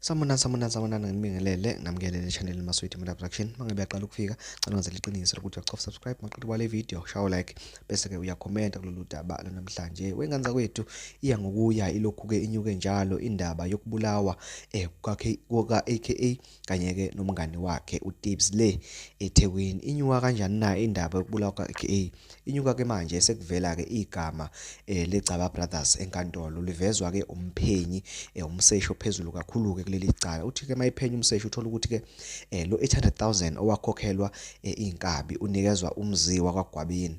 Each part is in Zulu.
Samunani samunani samunani nginibingelele nginamkelele channel Maswidi Media Production mangabe yaqala ukufika cela wenze liqiniso lokuthi uyacofa subscribe maqedwe kwale video shawo like bese ke uyakhomenta kulolu daba lonamhlanje wengane zakwethu iya ngokuya ilokhu ke inyuke njalo indaba yokubulawa eh kuka AKA kanye-ke nomngani wakhe utips le ethekwini inyuka kanjani na indaba yokubulawa kuka-aka inyuka-ke manje sekuvela-ke igama um legcaba brothers enkantolo livezwa-ke umphenyi um umseshi ophezulu kakhulu-ke kuleli cala uthi-ke uma iphenya umseshi uthola ukuthi-ke um lo 800 000 owakhokhelwa um iy'nkabi unikezwa umziwa kwagwabini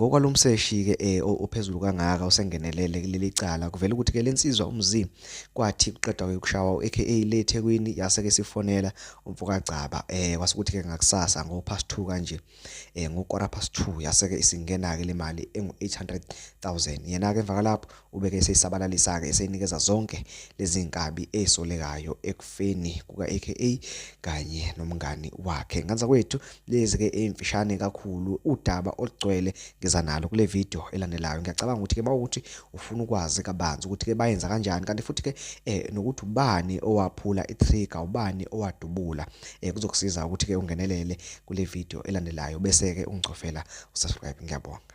Ngokwalomseshi-ke eh, ophezulu kangaka usengenelele kuleli cala kuvela ukuthi-ke le nsizwa umzi kwathi kuqeda ukushawa u-aka le ethekwini yase-ke sifonela umfokagcaba um eh, kwase ukuthi-ke ngakusasa ngo-past two kanje um eh, ngo-quarter past two yase-ke isingena-ke le mali engu-eight hundred thousand yena-ke emva kwalapho Ubeke eseyisabalalisa-ke eseyinikeza zonke lezi nkabi ezisolekayo ekufeni kuka-AKA kanye nomngani wakhe. Nganza kwethu, lezi-ke ey'mfishane kakhulu udaba olugcwele ngeza nalo kule video elandelayo. Ngiyacabanga ukuthi-ke mawukuthi ufuna ukwazi kabanzi ukuthi-ke bayenza kanjani kanti futhi-ke eh, nokuthi ubani owaphula i-trigger, ubani owadubula eh, kuzokusiza ukuthi-ke ungenelele kule video elandelayo bese-ke ungicofela usubscribe. Ngiyabonga.